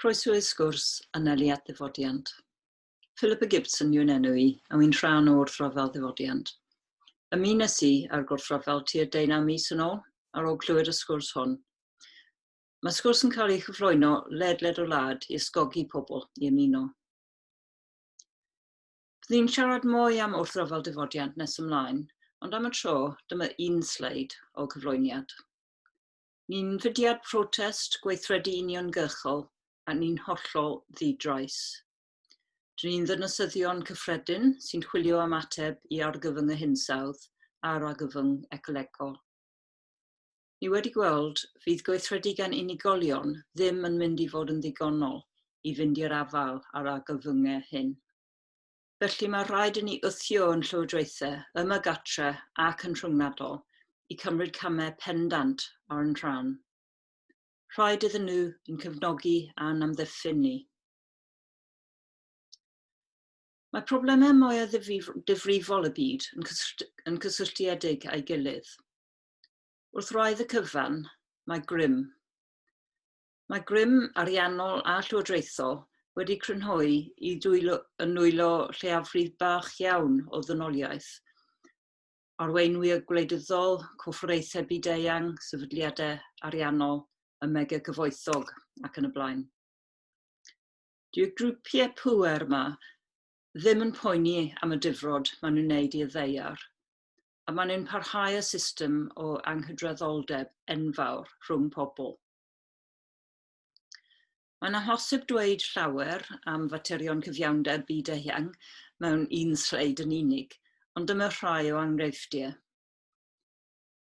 Croeso i sgwrs anelu at ddifodiant. Philippa Gibson yw'n enw i, a wy'n rhan o wrthryfel ddifodiant. Ymunes i â'r gwrthryfel tua deunaw mis yn ôl, ar ôl clywed y sgwrs hwn. Mae sgwrs yn cael ei chyflwyno ledled y wlad i ysgogi pobl i ymuno. Byddwn siarad mwy am wrthryfel difodiant nes ymlaen, ond am y tro, dyma un sleid o'r cyflwyniad. Ni'n fudiad protest, gweithredu uniongyrchol, a ni'n hollol ddi-drais. Dyn ni'n ddynasyddion cyffredin sy'n chwilio am ateb i argyfyng y hinsawdd a'r argyfyng ecolegol. Ni wedi gweld, fydd gweithredu gan unigolion ddim yn mynd i fod yn ddigonol i fynd i'r afael â'r argyfyngau hyn. Felly mae rhaid i ni wthio yn llywodraethau, ym y gartre ac yn rhyngwladol, i cymryd camau pendant ar yn rhan. Rhaid iddyn nhw yn cefnogi a'n amddiffyn ni. Mae problemau mwyaf ddifrifol y byd yn, cysyllt, yn cysylltiedig â'i gilydd. Wrth wraidd y cyfan, mae grym. Mae grym ariannol a llywodraethol wedi crynhoi i dwylo, yn nwylo lleiafrif bach iawn o ddynoliaeth, arweinwyr gwleidyddol, corfforaethau byd-eang, sefydliadau ariannol, y mega cyfoethog ac yn y blaen. Dyw'r grwpiau pŵer yma ddim yn poeni am y difrod maen nhw'n wneud i'r ddeiar, a maen nhw'n parhau â system o anghydraddoldeb enfawr rhwng pobl. Mae'n amhosib dweud llawer am faterion cyfiawnder byd eang mewn un sleid yn unig, ond dyma rhai o enghreifftiau.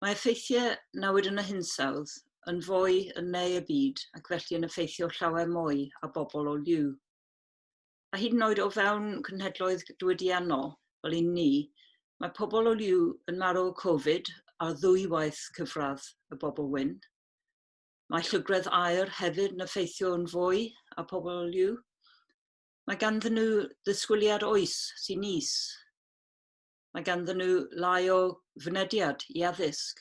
Mae effeithiau nawyd yn y hinsawdd yn fwy yn ne y byd ac felly yn effeithio llawer mwy a bobl o liw. A hyd yn oed o fewn cynhedloedd diwydiannol, fel un ni, mae pobl o liw yn marw o Covid ar ddwywaith cyfradd y bobl wyn. Mae llygredd aer hefyd yn effeithio yn fwy a pobl liw. Mae ganddyn nhw ddisgwyliad oes sy'n is. Mae ganddyn nhw lai o fynediad i addysg.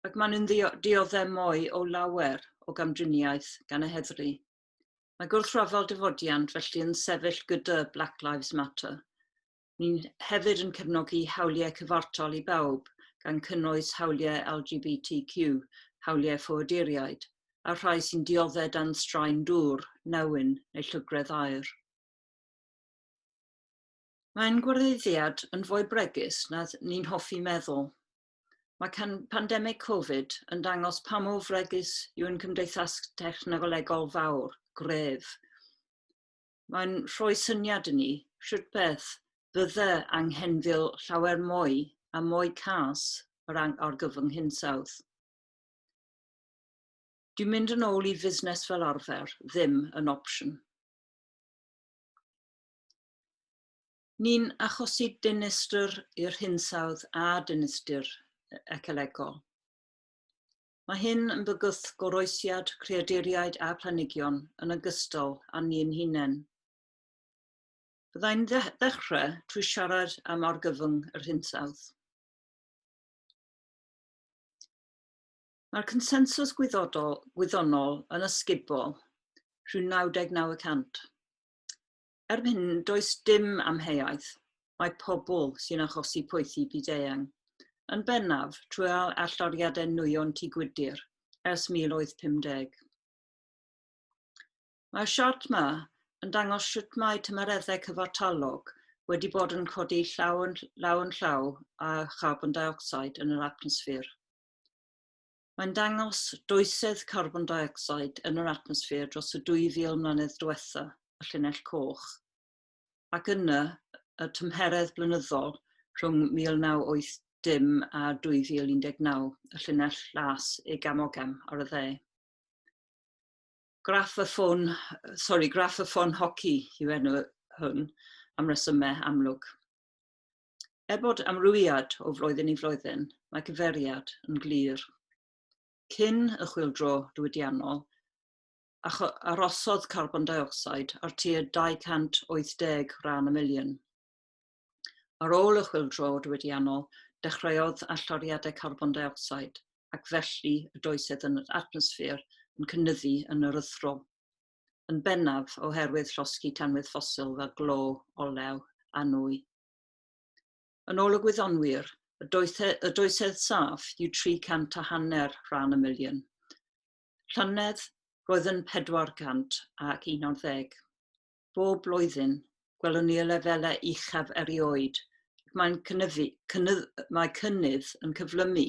Ac maen nhw'n dioddef mwy o lawer o gamdriniaeth gan y heddlu. Mae gwrthryfel dyfodiant felly yn sefyll gyda Black Lives Matter. Ni'n hefyd yn cefnogi hawliau cyfartal i bawb, gan cynnwys hawliau LGBTQ, hawliau ffoaduriaid, a'r rhai sy'n dioddef dan straen dŵr, newyn neu llygredd aer. Mae ein gwareiddiad yn fwy bregus na ni'n hoffi meddwl. Mae can pandemig Covid yn dangos pa mor fregus yw ein cymdeithas technolegol fawr, gref. mae'n rhoi syniad i ni sut beth fydde anghenfil llawer mwy a mwy cas yr argyfwng hinsawdd. Dyw mynd yn ôl i fusnes fel arfer ddim yn opsiwn. Ni'n achosi dinistr i'r hinsawdd a dinistr ecolegol. Mae hyn yn bygwth goroesiad creaduriaid a phlanhigion yn ogystal â ni'n hunain. Byddai'n ddechrau trwy siarad am argyfwng yr hinsawdd. Mae'r consensws gwyddonol yn ysgubol rhyw 99 y cant. Erbyn hyn, does dim amheuaeth, mae pobl sy'n achosi poethi byd-eang, yn bennaf trwy alldoriadau nwyon Tŷ Gwydir ers 1850. Mae'r siart yma yn dangos sut mae tymereddau cyfartalog wedi bod yn codi llaw yn llaw, yn llaw â charbon dioxide yn yr atmosffer. Mae'n dangos doisedd carbon dioxide yn yr atmosffer dros y 2,000 mlynedd diwetha', y llinell coch, ac yna y tymheredd blynyddol rhwng 1980 a 2019, y llinell las, egam-ogam, ar y dde. Graff y ffôn, sori, graff y ffôn hoci yw enw hwn, am resymau amlwg. Er bod amrywiad o flwyddyn i flwyddyn, mae gyfeiriad yn glir. Cyn y chwildro diwydiannol, arosodd carbon dioxide ar tua 280 ran y miliwn. Ar ôl y chwildro diwydiannol, dechreuodd allyriadau carbon dioxide ac felly y doisedd yn yr atmosffer yn cynnyddu yn erythrol. yn bennaf oherwydd llosgi tanwydd ffosil fel glo, olew a nwy. Yn ôl y gwyddonwyr, y, doethe, y doethedd saff yw 300 a hanner rhan y miliwn. Llynedd, roedd yn 400 ac 11. Bob blwyddyn, gwelwn ni y lefelau uchaf erioed mae'n cynnyfu, cynnydd, mae cynnydd yn cyflymu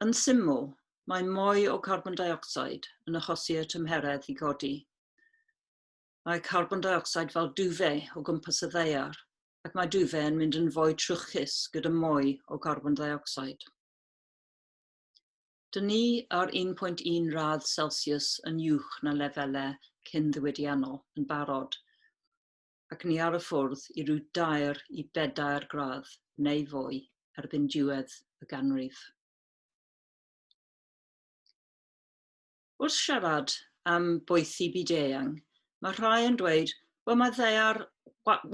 Yn syml, mae mwy o carbon deuocsid yn achosi i'r tymheredd i godi. Mae carbon deuocsid fel dufe o gwmpas y ddaear, ac mae dufe yn mynd yn fwy trwchus gyda mwy o carbon deuocsid. Dyn ni ar 1.1 radd Celsius yn uwch na lefelau cyn-ddiwydiannol yn barod. ac ni ar y ffwrdd i ryw dair i bedair gradd neu fwy erbyn diwedd y ganrif. Wrth siarad am boethi byd eang, mae rhai yn dweud, wel mae ddaear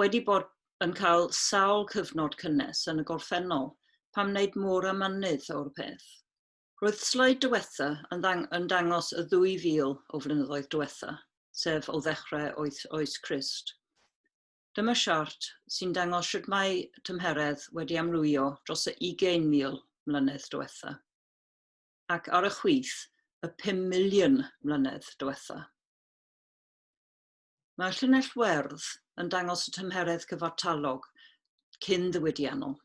wedi bod yn cael sawl cyfnod cynnes yn y gorffennol, pam wneud mor amynnydd o'r peth? Roedd sleid diwetha yn, ddang, yn dangos y 2,000 o flynyddoedd diwetha, sef o ddechrau oes, oes Crist. Dyma siart sy'n dangos sut mae tymheredd wedi amlwyo dros y 20,000 mlynedd diwetha, ac ar y chwith y 5 miliwn mlynedd diwetha. Mae llinell werdd yn dangos y tymheredd cyfartalog cyn ddiwydiannol.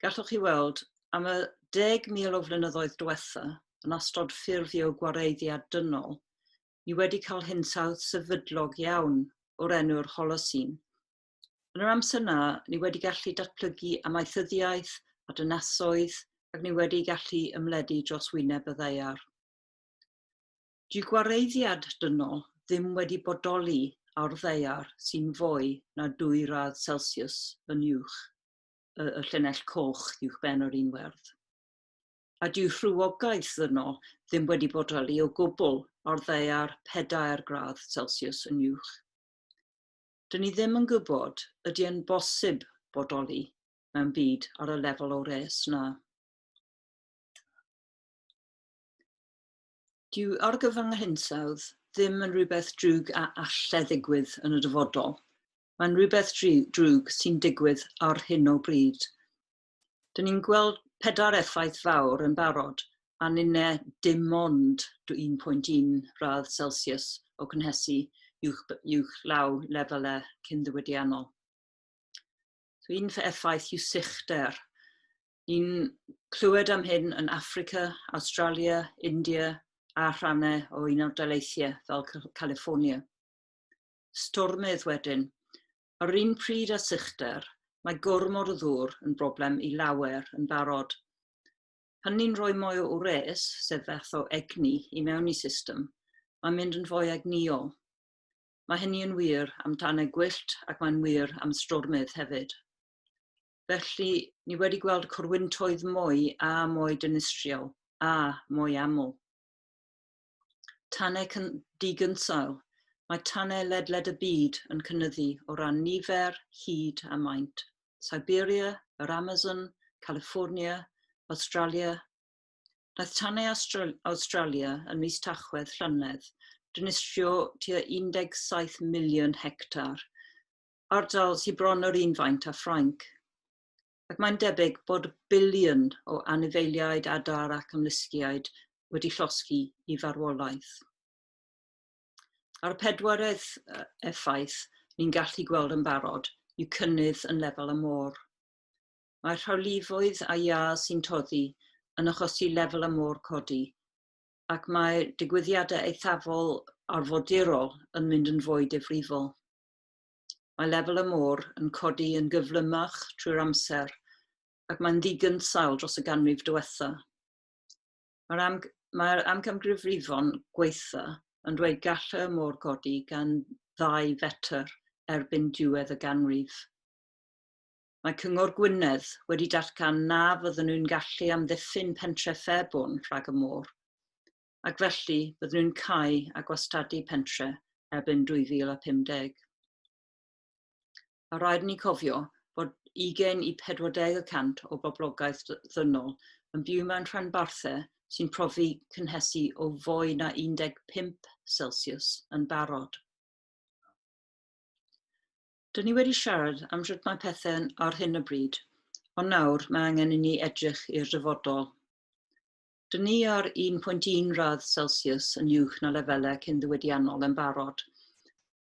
Gallwch chi weld, am y 10,000 o flynyddoedd diwetha', yn astrod ffurfio gwareiddiad dynol, ni wedi cael hinsawdd sefydlog iawn o'r enw'r Holocene. Yn yr amser 'na, ni wedi gallu datblygu amaethyddiaeth a dynasoedd ac ni wedi gallu ymledu dros wyneb y ddaear. Dyw gwareiddiad dynol ddim wedi bodoli ar ddaear sy'n fwy na dwy radd Celsius yn uwch. y, y llinell coch uwch ben yr un werdd. A dyw rhywogaeth yno ddim wedi bodoli o gwbl ar ddeiar pedair gradd Celsius yn uwch. Dyn ni ddim yn gwybod ydy yn bosib bodoli mewn byd ar y lefel o res na. Dyw argyfwng a hinsawdd ddim yn rhywbeth drwg a allai ddigwydd yn y dyfodol, Mae'n rhywbeth drwg sy'n digwydd ar hyn o bryd. Dyn ni'n gweld pedair effaith fawr yn barod, a ninne dim ond 1.1 radd Celsius o gynhesu uwch law lefelau cyn-ddiwydiannol. So un effaith yw sychder. Ni'n clywed am hyn yn Africa, Australia, India a rhannau o un o'r daleithiau fel California. stormydd wedyn. Yr un pryd â sychder, mae gormod o ddŵr yn broblem i lawer yn barod. Hynny'n rhoi mwy o wres, sef fath o egni, i mewn i system. Mae'n mynd yn fwy egnïol. Mae hynny yn wir am tanau gwyllt ac mae'n wir am stormydd hefyd. Felly, ni wedi gweld corwyntoedd mwy a mwy dinistriol a mwy aml. Tanau digynsail, mae tanau ledled y byd yn cynnyddu o ran nifer, hyd a maint. Siberia, yr Amazon, California, Awstralia. Daeth tanau Awstralia yn mis Tachwedd llynedd dinistrio tua 17 miliwn hectar, ardal sydd bron yr un faint â Ffrainc. ac mae'n debyg bod biliwn o anifeiliaid adar ac ymlusgiaid wedi llosgi i farwolaeth. A'r pedwaredd effaith ni'n gallu gweld yn barod yw cynnydd yn lefel y môr. Mae rhawlifoedd a iâ sy'n toddi yn achosi lefel y môr codi, ac mae digwyddiadau eithafol arfodirol yn mynd yn fwy difrifol. Mae lefel y môr yn codi yn gyflymach trwy'r amser ac mae'n ddigynsail dros y ganrif diwetha. Mae'r am, mae amgamgrifrifon gweitha yn dweud gall y môr godi gan ddau fetr erbyn diwedd y ganrif. Mae Cyngor Gwynedd wedi datgan na fydden nhw'n gallu amddiffyn pentre Fairbourne rhag y môr, ac felly byddwn yn cau a gwastadu pentre erbyn 2050. A rhaid ni cofio bod 20 i 40 y cant o boblogaeth ddynol yn byw mewn rhanbarthau sy'n profi cynhesu o fwy na 15 Celsius yn barod. Dyn ni wedi siarad am sut mae pethau ar hyn o bryd, ond nawr mae angen i ni edrych i'r dyfodol. Dŷn ni ar 1.1 radd Celsius yn uwch na lefelau cyn-ddiwydiannol yn barod,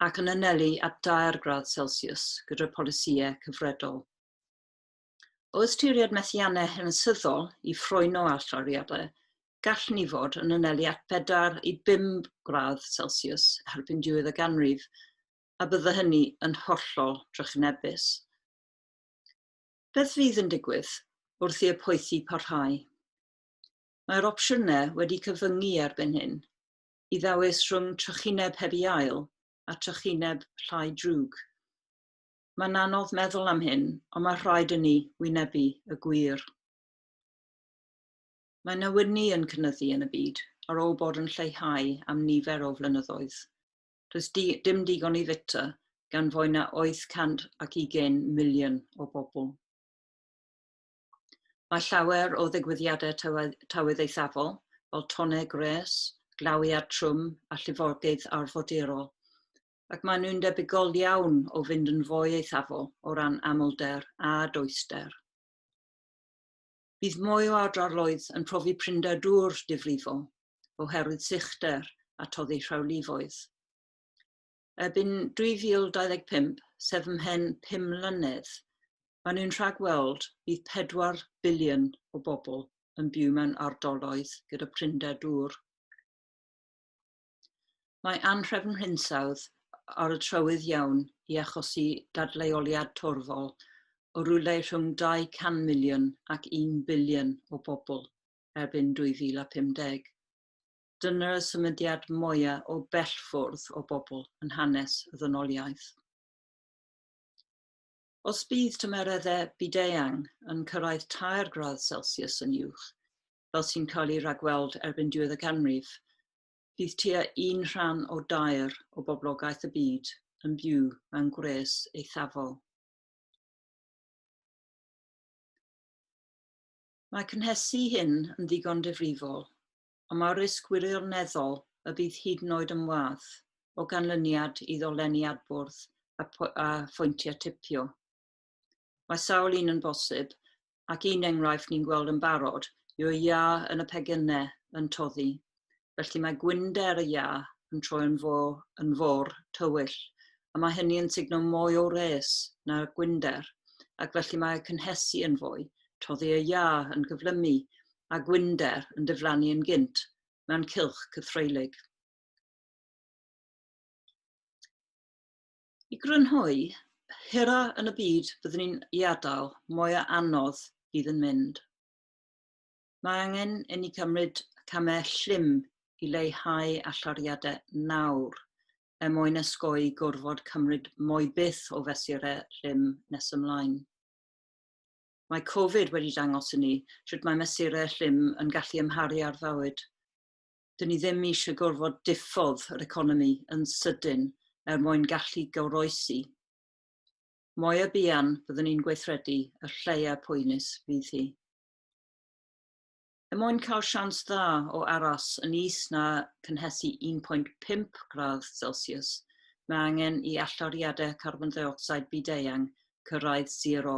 ac yn anelu at dair gradd Celsius gyda'r polisïau cyfredol. O ystyried methiannau hanesyddol i ffroeno allyriadau, gall ni fod yn anelu at bedair i bum gradd Celsius erbyn diwedd y ganrif, a bydde hynny yn hollol drychinebus. Beth fydd yn digwydd wrth i'r poethi parhau? Mae'r opsiynau wedi cyfyngu erbyn hyn i ddewis rhwng trychineb heb i ail a trychineb llai drwg. Mae'n anodd meddwl am hyn, ond mae rhaid i ni wynebu y gwir. Mae newyddni yn cynyddu yn y byd ar ôl bod yn lleihau am nifer o flynyddoedd. Does di, dim digon i fita gan fwy na 820 miliwn o bobl. Mae llawer o ddigwyddiadau tywydd eithafol, fel tonnau gwres, glawiad trwm a llifogydd arfordirol, ac maen nhw'n debygol iawn o fynd yn fwy eithafol o ran amlder a doester. Bydd mwy o adroloedd yn profi prinder dŵr difrifol oherwydd sychder a toddi rhawlifoedd. Erbyn 2025, sef ymhen pum mlynedd, maen nhw'n rhagweld bydd pedwar biliwn o bobl yn byw mewn ardaloedd gyda prinder dŵr. Mae anhrefn hinsawdd ar y trywydd iawn i achosi dadleoliad torfol o rywle rhwng 200 miliwn ac 1 biliwn o bobl erbyn 2050. Dyna'r symudiad mwyaf o bell ffwrdd o bobl yn hanes y ddynoliaeth. Os bydd tymereddau byd-eang yn cyrraedd tair gradd Celsius yn uwch, fel sy'n cael ei ragweld erbyn diwedd y canrif, bydd tua un rhan o dair o boblogaeth y byd yn byw mewn gwres eithafol. Mae cynhesu hyn yn ddigon difrifol, ond mae'r risg wirioneddol y bydd hyd yn oed yn wadd o ganlyniad i ddolenni adbwrdd a, a phwyntiau tipio. Mae sawl un yn bosib, ac un enghraifft ni'n gweld yn barod yw'r iâ yn y pegynne yn toddi. Felly mae gwynder y iâ yn troi yn fo yn fôr tywyll, a mae hynny yn sugno mwy o wres na'r gwynder, ac felly mae y cynhesu yn fwy, toddi y iâ yn cyflymu a gwynder yn diflannu yn gynt mewn cylch cythreulig. I grynhoi, hira yn y byd byddwn ni'n ei adael, mwy o anodd fydd yn mynd. Mae angen i ni cymryd camau llym i leihau allariadau nawr er mwyn ysgoi gorfod cymryd mwy byth o fesurau llym nes ymlaen. Mae Covid wedi dangos i ni sut mae mesurau llym yn gallu ymharu ar fywyd. 'dyn ni ddim eisiau gorfod diffodd yr economi yn sydyn er mwyn gallu goroesi. Moya buan byddwn ni'n gweithredu, y lleia poenus fydd hi. Er mwyn cael sians dda o aros yn is na cynhesu 1.5 gradd Celsius, mae angen i allyriadau carbon deuocsid byd-eang cyrraedd sero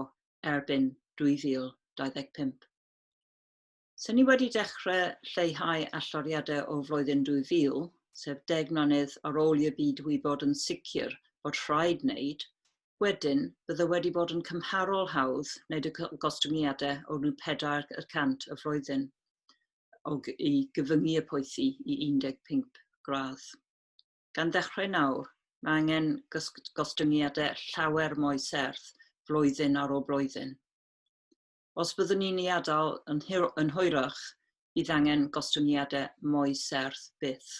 erbyn 2025. So ni wedi dechrau lleihau alloriadau o flwyddyn 2000, sef deg mlynedd ar ôl i'r byd wybod yn sicr bod rhaid wneud, wedyn bydde wedi bod yn cymharol hawdd wneud y gostyngiadau o ryw pedair y cant y flwyddyn o i gyfyngu y poethi i 15 gradd. Gan ddechrau nawr, mae angen gostyngiadau llawer mwy serth flwyddyn ar ôl blwyddyn. Os byddwn ni'n ei adael yn, yn hwyrach, bydd angen gostyngiadau mwy serth byth.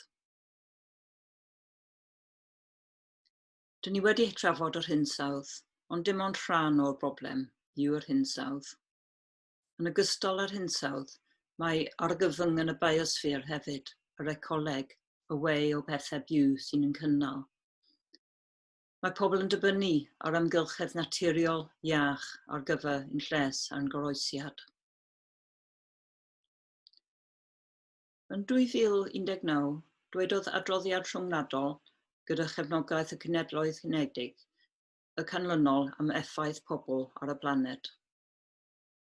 Dyn ni wedi trafod yr hinsawdd, ond dim ond rhan o'r broblem yw'r hinsawdd. Yn ogystal â'r hinsawdd, mae argyfyng yn y biosffer hefyd, yr ecoleg, y way o bethau byw sy'n yn cynnal. Mae pobl yn dibynnu ar amgylchedd naturiol iach ar gyfer ein lles a'n goroesiad. Yn 2019, dwedodd adroddiad rhyngwladol gyda chefnogaeth y Cenhedloedd Unedig y canlynol am effaith pobl ar y blaned.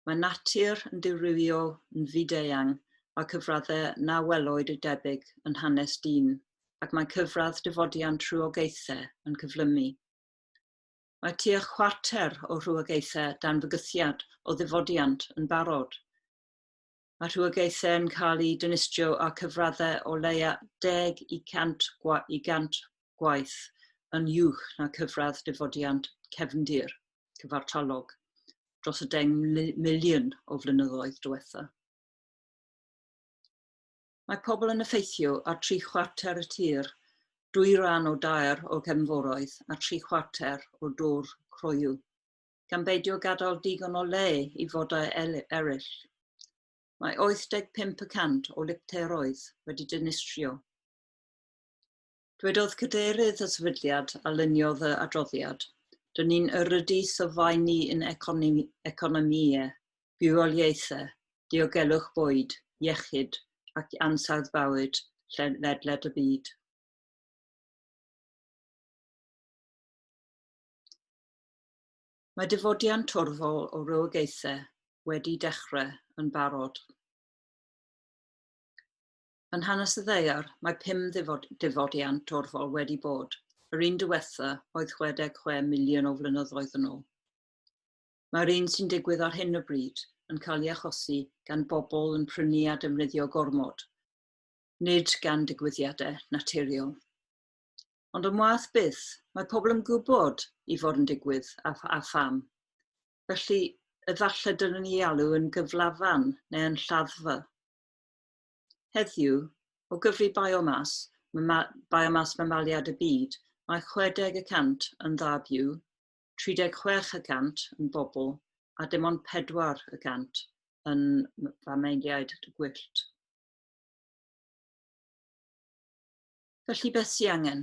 Mae natur yn ddirywiol, yn fyd-eang, mae cyfraddau na welwyd y debyg yn hanes dyn, ac mae cyfradd dyfodiant rhywogaethau yn cyflymu. Mae tua chwarter o rhywogaethau dan fygythiad o ddyfodiant yn barod. a rhywogaethau yn cael eu dinistrio a cyfraddau o leia 10 i 100 gwa i 100 gwaith yn uwch na cyfradd difodiant cefndir cyfartalog dros y 10 miliwn o flynyddoedd diwetha. Mae pobl yn effeithio ar tri chwarter y tir, dwy ran o dair o gefnforoedd a tri chwarter o dwr croyw. gan beidio gadael digon o le i fodau eraill. Mae 85 y cant o lipteroedd wedi dinistrio. Dwedodd cadeirydd y sefydliad a luniodd y adroddiad, dyn ni'n yrydu sylfaen ni yn economïau, bywoliaethau, diogelwch bwyd, iechyd ac ansawdd bywyd ledled y byd. Mae dyfodian torfol o rywogaethau wedi dechrau yn barod. Yn hanes y ddeiar, mae pum dyfodian torfol wedi bod, yr un diwetha oedd 66 miliwn o flynyddoedd yn ôl. Mae'r un sy'n digwydd ar hyn o bryd yn cael ei achosi gan bobl yn prynu a defnyddio gormod, nid gan digwyddiadau naturiol. Ond yn wath byth, mae pobl yn gwybod i fod yn digwydd a, a pham. Felly, efallai dylwn ni ei alw yn gyflafan neu yn lladdfa. Heddiw, o gyfri biomas, mama, biomas mamaliad y byd, mae 60 y cant yn dda byw, 36 y cant yn bobl a dim ond 4 y cant yn famaliaid gwyllt. Felly beth sy'n angen?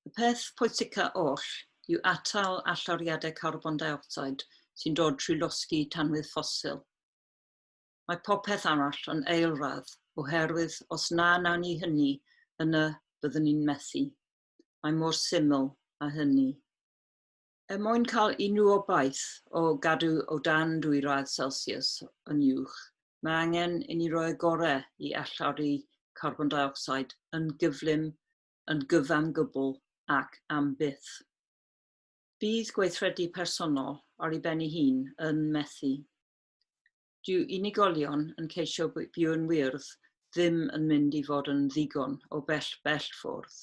Y peth pwysica oll yw atal allawriadau carbon dioxide sy'n dod trwy losgi tanwydd ffosil. Mae popeth arall yn eilradd oherwydd os na nawn ni hynny, yna byddwn ni'n methu. Mae mor syml â hynny. Er mwyn cael unrhyw obaith o gadw o dan dwy radd Celsius yn uwch, mae angen i ni roi y gorau i allawru carbon deuocsid yn gyflym, yn gyfan gwbl ac am byth. Bydd gweithredu personol ar ei ben ei hun yn methu. Dyw unigolion yn ceisio byw yn wyrdd ddim yn mynd i fod yn ddigon o bell bell ffwrdd.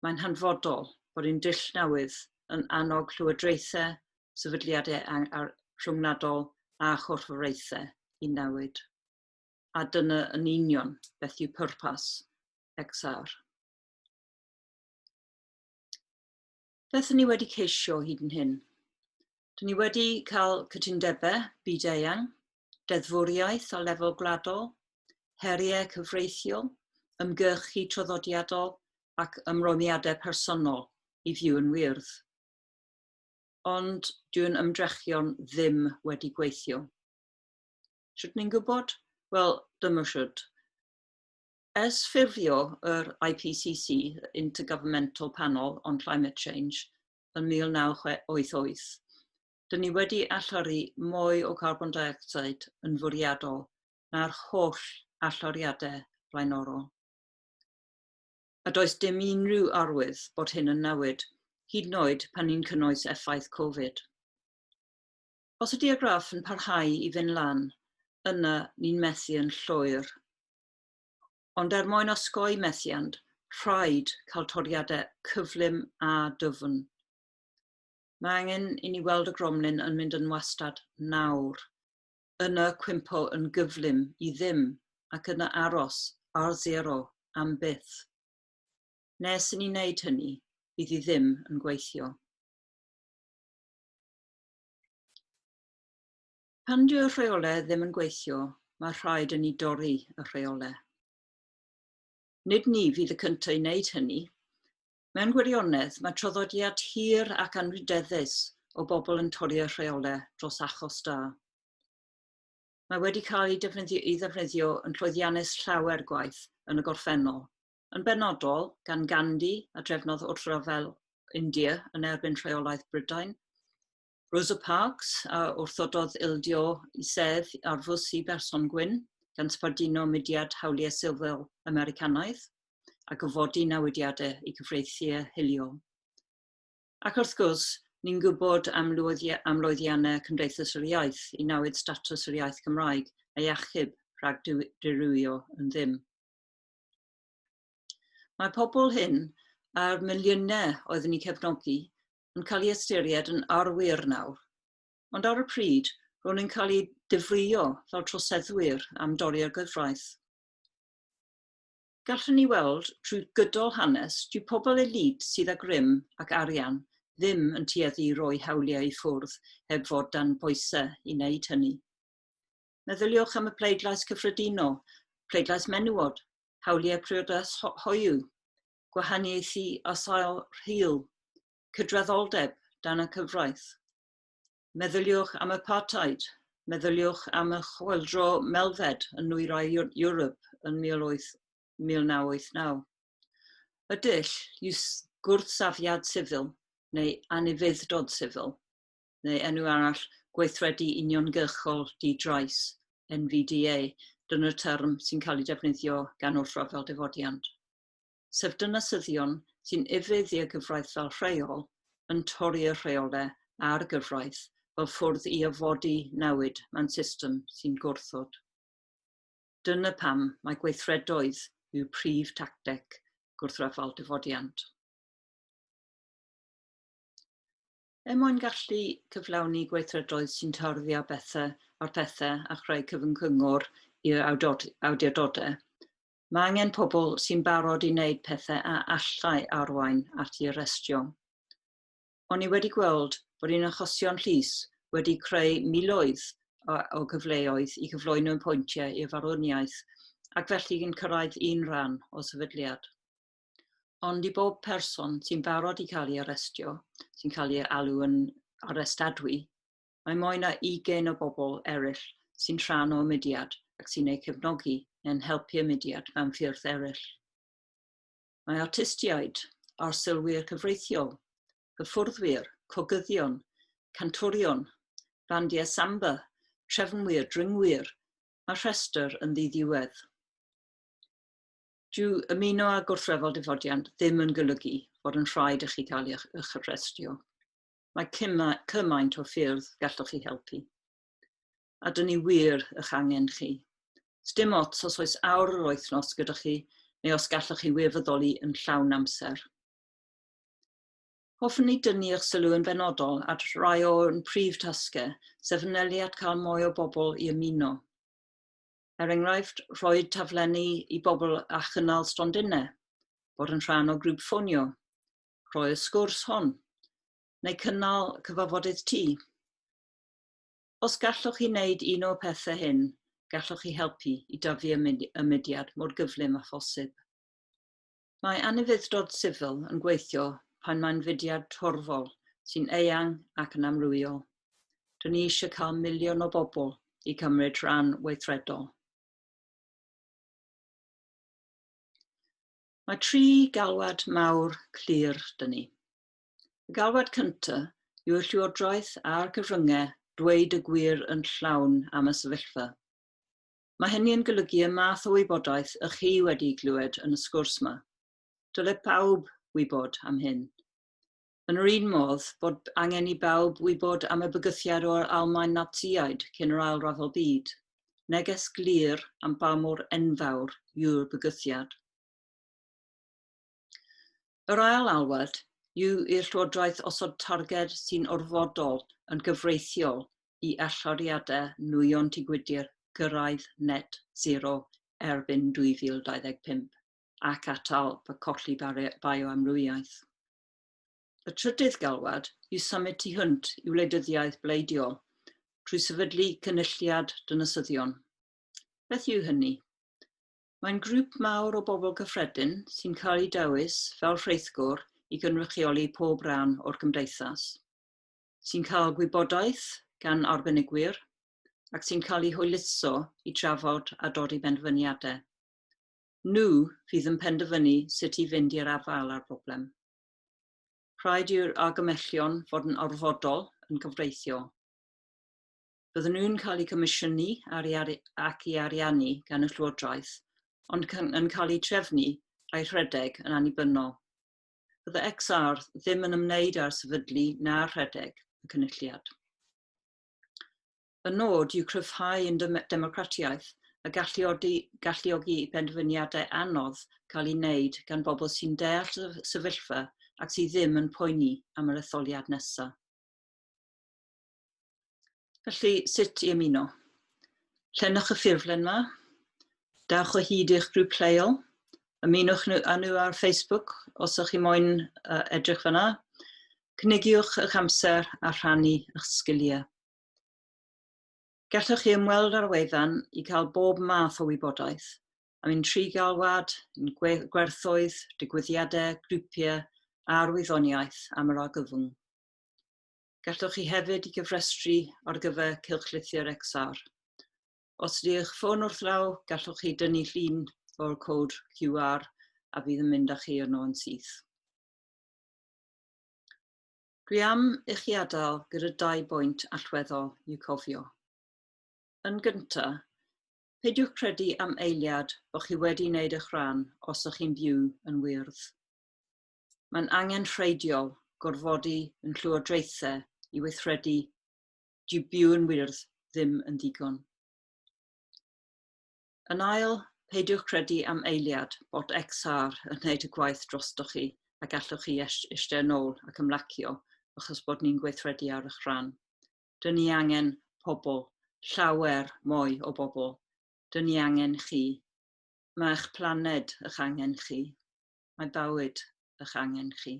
mae'n hanfodol bod ein dull newydd yn annog llywodraethau, sefydliadau rhyngwladol a chorfforaethau i newid. A dyna yn union beth yw pwrpas XR. Beth ni wedi ceisio hyd yn hyn? Dyn ni wedi cael cytundebau byd-eang deddfwriaeth o lefel gwladol, heriau cyfreithiol, ymgyrchu traddodiadol ac ymrwymiadau personol i fyw yn wyrdd. Ond dyw'n ymdrechion ddim wedi gweithio. Sut ni'n gwybod? Wel, dyma sut. Ers ffurfio yr IPCC, Intergovernmental Panel on Climate Change, yn 1988, dyn ni wedi allori mwy o garbon deuocsid yn fwriadol na'r holl alloriadau blaenorol. A does dim unrhyw arwydd bod hyn yn newid, hyd yn oed pan ni'n cynnwys effaith Covid. Os ydy'r graff yn parhau i fynd lan, yna ni'n methu yn llwyr. Ond er mwyn osgoi methiant, rhaid cael toriadau cyflym a dyfn. Mae angen i ni weld y gromlin yn mynd yn wastad nawr. Yna cwympo yn gyflym i ddim ac yna aros ar zero am byth. Nes i ni wneud hynny, bydd i ddim yn gweithio. Pan dyw'r rheolau ddim yn gweithio, mae rhaid i ni dorri y rheolau. Nid ni fydd y cyntaf i wneud hynny, Mewn gwirionedd, mae traddodiad hir ac anrhydeddus o bobl yn torri y rheolau dros achos da. Mae wedi cael ei defnyddio, ei ddefnyddio yn llwyddiannus llawer gwaith yn y gorffennol, yn benodol gan Gandhi a drefnodd wrthryfel India yn erbyn rheolaeth Brydain, Rosa Parks, a wrthododd ildio i sedd ar fws i berson gwyn, gan sbarduno mudiad hawliau sifil Americanaidd, a gofodi newidiadau i gyfreithiau hiliol. Ac wrth gwrs, ni'n gwybod am lwyddiannau Cymdeithas yr Iaith i nawyd statws yr iaith Gymraeg a'i achub rhag dirywio yn ddim. Mae pobl hyn a'r miliynau oeddwn i'n cefnogi yn cael ei ystyried yn arwyr nawr. Ond ar y pryd, ro'n i'n cael ei difrïo fel troseddwyr am dorri ar gyfraith. Gallwn ni weld trwy gydol hanes, dyw pobl elid sydd â grym ac arian ddim yn tueddu i roi hawliau i ffwrdd heb fod dan boesau i wneud hynny. Meddyliwch am y pleidlais cyffredinol, pleidlais menywod, hawliau priodas hoyw, gwahaniaethu a sail rhyl, cydraddoldeb dan y cyfraith. Meddyliwch am apartheid, meddyliwch am y chwyldro melfed yn nwyrain Ewrop yn 1989. Y dull yw gwrthsafiad sifil neu anufudd-dod sifil, neu enw arall Gweithredu Uniongyrchol Di-drais, NVDA, dyna'r term sy'n cael ei defnyddio gan wrthryfel difodiant. sef dinasyddion sy'n ufudd i'r gyfraith fel rheol, yn torri'r rheolau a'r gyfraith fel ffwrdd i orfodi newid mewn system sy'n gwrthod. Dyna pam mae gweithredoedd yw prif tacteg gwrthryfel difodiant. Er mwyn gallu cyflawni gweithredoedd sy'n tarddio bethau ar phethau a chreu cyfyng cyngor i'r awdurdodau, Mae angen pobl sy'n barod i wneud pethau a allai arwain at ei arestio. O'n i wedi gweld bod ein achosion llys wedi creu miloedd o gyfleoedd i gyflwyno ein pwyntiau i'r farwniaeth ac felly yn cyrraedd un rhan o sefydliad. Ond i bob person sy'n barod i cael ei arestio, sy'n cael ei alw yn arestadwy, Mae mwy na 20 o bobl eraill sy'n rhan o'u mudiad ac sy'n eu cefnogi neu'n helpu y mudiad mewn ffyrdd eraill. Mae artistiaid, arsylwyr cyfreithiol, hyfforddwyr, cogyddion, cantorion, bandiau samba, trefnwyr, dringwyr, mae'r rhestr yn ddiddiwedd. Dyw ymuno â gwrthryfel difodiant ddim yn golygu fod yn rhaid i chi cael eich arestio. Mae cymaint o ffyrdd galloch chi helpu. A dyn ni wir ych angen chi. Sdim ots os oes awr yr wythnos gyda chi neu os galloch chi wirfoddoli yn llawn amser. Hoffwn ni dynnu eich sylw yn benodol at rai o'n prif tasgau, sef wnelu at cael mwy o bobl i ymuno. Er enghraifft, rhoi taflenni i bobl a chynnal stondinau, bod yn rhan o grŵp ffonio, rhoi'r sgwrs hon, neu cynnal cyfafodydd ti. Os gallwch chi wneud un o'r pethau hyn, gallwch chi helpu i dyfu y mudiad mor gyflym â phosib. Mae anufudd-dod sifil yn gweithio pan mae'n fudiad torfol sy'n eang ac yn amrywiol. Dyn ni eisiau cael miliwn o bobl i cymryd rhan weithredol. Mae tri galwad mawr clir 'da ni. Y galwad cynta yw'r Llywodraeth a'r cyfryngau dweud y gwir yn llawn am y sefyllfa. Mae hynny yn golygu y math o wybodaeth ych chi wedi glywed yn y sgwrs 'ma. Dyle pawb wybod am hyn. Yn yr un modd, bod angen i bawb wybod am y bygythiad o'r Almaen Natsïaid cyn yr Ail Ryfel Byd. Neges glir am ba mor enfawr yw'r bygythiad. Yr ail alwad yw i'r Llywodraeth osod targed sy'n orfodol yn gyfreithiol i allyriadau nwyon tŷ gwydr gyrraedd net zero erbyn 2025 ac atal colli bioamrywiaeth. Y trydydd galwad i symud tu hwnt i wleidyddiaeth bleidiol trwy sefydlu cynulliad dynasyddion. Beth yw hynny? Mae'n grŵp mawr o bobl cyffredin sy'n cael eu dewis fel rheithgor i gynrychioli pob rhan o'r gymdeithas, sy'n cael gwybodaeth gan arbenigwyr ac sy'n cael eu hwyluso i drafod a dodi penderfyniadau. Nhw fydd yn penderfynu sut i fynd i'r afael â'r broblem. Rhaid i'r argymellion fod yn orfodol yn gyfreithiol. Byddwn nhw'n cael eu comisiynu ac i ariannu gan y Llywodraeth, ond yn cael eu trefnu a'i rhedeg yn annibynnol. Bydde XR ddim yn ymwneud â'r sefydlu na'r rhedeg y cynulliad. Y nod yw cryfhau ein democratiaeth a galluogi i benderfyniadau anodd cael eu gwneud gan bobl sy'n deall y sefyllfa ac sydd ddim yn poeni am yr etholiad nesaf. Felly, sut i ymuno? Llenwch y ffurflen yma, dawch o hyd i'ch grŵp lleol, ymunwch â nhw ar Facebook os ydych chi moyn edrych fyna, cynigiwch eich amser a rhannu eich sgiliau. Gallwch chi ymweld â'r wefan i cael bob math o wybodaeth am ein tri galwad, ein gwerthoedd, digwyddiadau, grwpiau a'r wyddoniaeth am yr argyfwng. Gallwch chi hefyd i gyfrestru ar gyfer cylchlythyr XR. Os ydy eich ffôn wrth law, gallwch chi dynnu llun o'r cod QR a fydd yn mynd â chi yno yn syth. Dwi am i chi adael gyda dau bwynt allweddol i'w cofio. Yn gynta, peidiwch credu am eiliad bod chi wedi wneud eich rhan os ych chi'n byw yn wyrdd. Mae'n angenrheidiol gorfodi yn llywodraethau i weithredu dyw byw yn wyrdd ddim yn ddigon. Yn ail, peidiwch credu am eiliad bod XR yn gwneud y gwaith drostoch chi a gallwch chi eistedd yn ôl ac ymlacio achos bod ni'n gweithredu ar eich rhan. Dyn ni angen pobl, llawer mwy o bobl. Dyn ni angen chi. Mae eich planed ych angen chi. Mae bywyd ych angen chi.